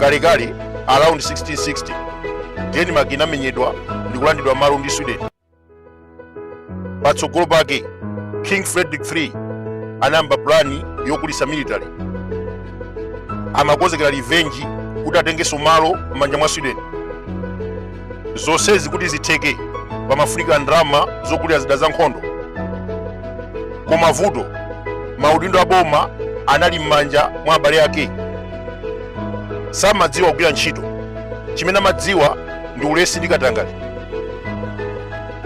kalekale around 1660 denmark inamenyedwa ndi kulandidwa malo ndi sweden patsogolo pake king frederick iii anayamba pulani yokulitsa military amakonzekera revenge kuti atengenso malo m'manja mwa sweden zonsezi kuti zitheke pamafunika ndalama zogulira zida za nkhondo koma vuto maudindo a boma anali m'manja mwa abale ake samadziwa kugwira ntchito chimene amadziwa ndi ulesi ndi katangale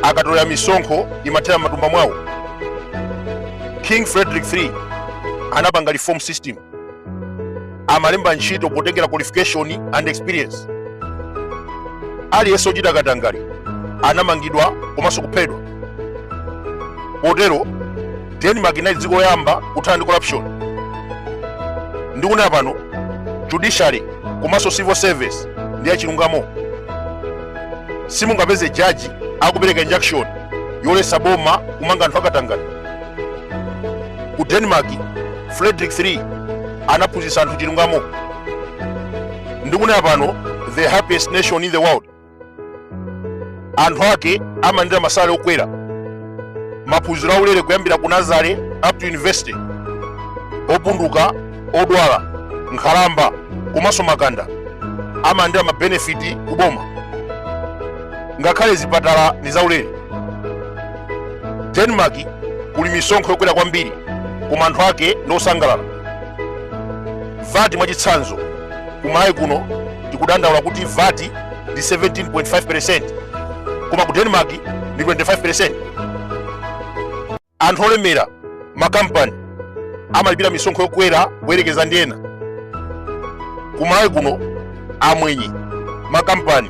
akatolera misonkho imathera m'matumba mwawo king frederick 3 anapanga reform system amalemba ntchito potengera qualification and experience aliyense ochita katangale anamangidwa komanso kuphedwa potero denmark inali dziko loyamba kuthana ndi corruption ndikunena pano judiciary komanso civil service ndi yachilungamo simungapeze jaji akupereka injunction yoletsa boma kumanga anthu akatangale ku denmark frederick 3 anaphunzitsa anthu chilungamo ndikunena pano the happiest nation in the world anthu ake amalandira masalale okwera maphunziro aulere kuyambira ku nazare up to university opunduka odwala nkhalamba komanso makanda amalandira mabenefiti ku boma ngakhale zipatala ndi zaulere denmark kuli misonkho yokwera kwambiri koma anthu ake ndi osangalala vati mwachitsanzo kumalawi kuno tikudandaula kuti vati ndi 17.5% koma ku denmark ndi 25% Anthu olemera, makampani, amalipira misonkho yokwera kuyerekeza ndi ena. Ku Malawi kuno, amwenye, makampani,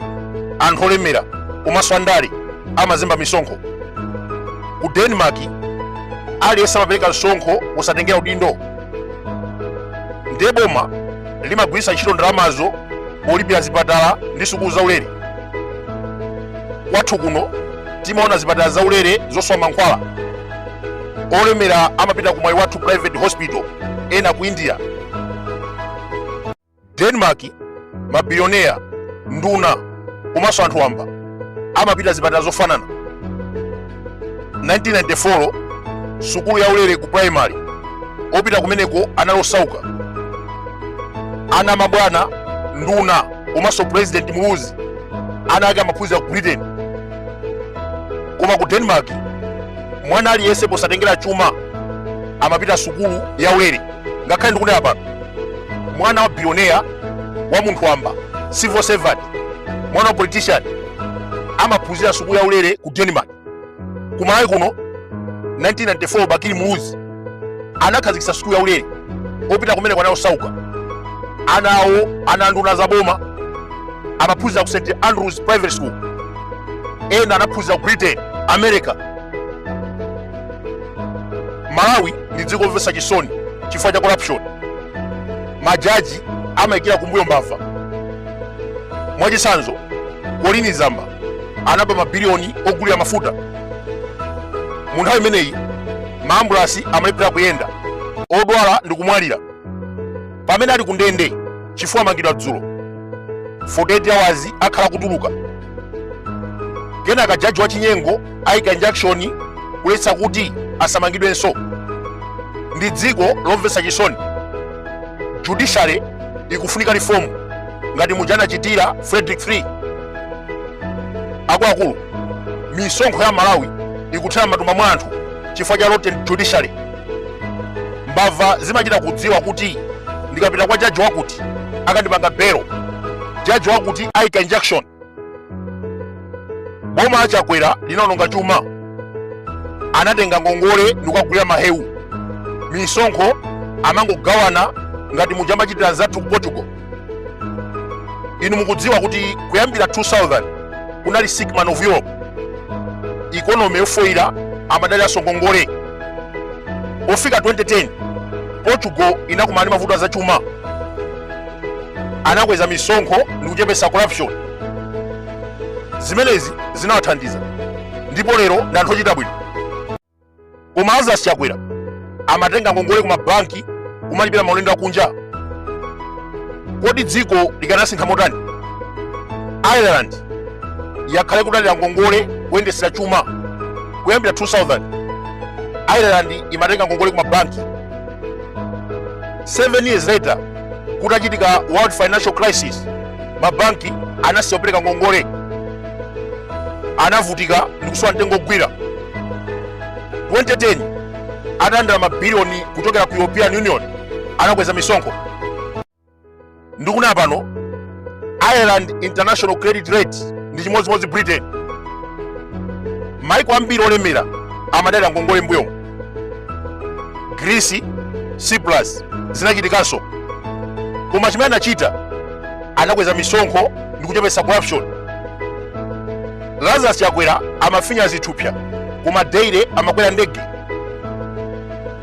anthu olemera komanso andale amazemba misonkho. Ku Denmark, aliyense amapereka msonkho wosatengera udindo. Ndiye boma limagwiritsa ntchito ndalamazo polipira zipatala ndi sukulu zaulere. Kwathu kuno timaona zipatala zaulere zosowa mankhwala olemera amapita ku mwaiwathu private hospital ena ku india denmark mabilioneya nduna komanso anthu wamba amapita zipatala zofanana 1994 sukulu yaulere ku primary opita kumeneko anali osauka ana amabwana nduna komanso president muluzi ana ake amaphunzira ku britain koma ku denmark mwana aliyense posatengera chuma amapita sukulu ya ulere ngakhale ndikunena pano mwana wa billionaire wa munthu wamba civil servant mwana wa politician amaphunzira sukulu ya ulere ku denmark kumalawi kuno 1994 bakili muluzi anakhazikitsa sukulu ya ulere opita kumeneko ana osauka ana awo ana anduna za boma amaphunzira ku st andrews private school ena anaphunzira ku britain america malawi ndi dziko lomvetsa chisoni chifukwa cha corruption majaji amayikira kumbuyo mbava mwachitsanzo colleen zamba anaba mabiliyoni ogulira mafuta mu nthawi imeneyi maambulasi amalephera kuyenda odwala ndi kumwalira pamene ali kundende chifukwa amangidwa dzulo 48 hours akhala akutuluka kenaka jaji wachinyengo ayika injunction kuletsa kuti asamangidwenso ndi dziko lomvetsa chisoni judiciary ikufunika reform ngati muja anachitira frederick three akuluakulu misonkho ya malawi ikuthera m'matumba mwa anthu chifukwa cha rotten judiciary mbava zimachita kudziwa kuti ndikapita kwa jaji wakuti akandipatsa belo jaji wakuti aika injunction boma la chakwera linaononga chuma anatenga ngongole ndikukagulira mahewu misonkho amangogawana ngati muja amachitira anzathu ku portugal inu mukudziwa kuti kuyambira 2000 kunali sick man of europe ikonomi yofoyira amadaliraso ngongole pofika 2010 portugal inakumana ndi mavuto azachuma anakweza misonkho ndi kuchepetsa corruption zimenezi zinawathandiza ndipo lero ndi anthu ochita bwino koma lazarus chakwera amatenga ngongole ku mabanki kumalipira maulendo akunja kodi dziko likanasintha motani ireland yakhala ikudalira ngongole kuyendetsera chuma kuyambira 2000 ireland imatenga ngongole ku mabanki 7 years later kutachitika world financial crisis mabanki anasiya kupereka ngongole anavutika ndi kusowa mtengo ogwira 2010 atalandira mabiliyoni kuchokera ku european union anakweza misonkho ndikunena pano ireland international credit rate ndi chimodzimodzi britain maiko ambiri olemera amadalira ngongole mbuyomu greece cyprus zinachitikanso koma chimene anachita anakweza misonkho ndi kuchepetsa corruption lazarus chakwera amafinya zithupsa koma daily amakwera ndege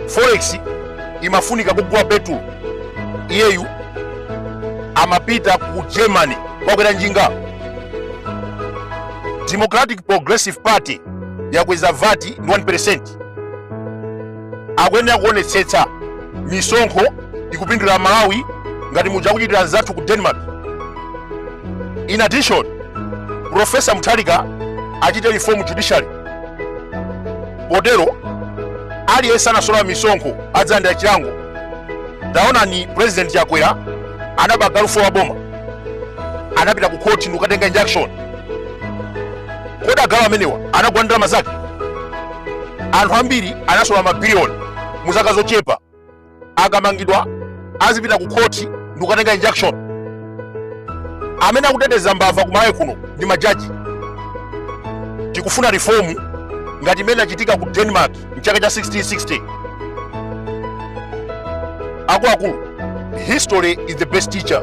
forex imafunika kugula petulo iyeyu amapita ku germany wakwera njinga democratic progressive party yakweza vat ndi 1 akuyenera kuonetsetsa misonkho ikupindulira amalawi ngati muja akuchitira anzathu ku denmark in addition profesa mutharika achite reform judiciary potero aliyense anasolola misonkho adzalandira chilango taonani president chakwera anaba galu wa boma anapita ku khoti ndikukatenga injunction kodi agalu amenewa anagula ndalama zake anthu ambiri anasolola mabiliyoni mu zaka zochepa akamangidwa azipita ku khoti ndi kukatenga injunction amene akuteteza mbava ku malawi kuno ndi majaji tikufuna reform ngati imene inachitika ku denmark mchaka cha 1660 akuluakulu history is the best teacher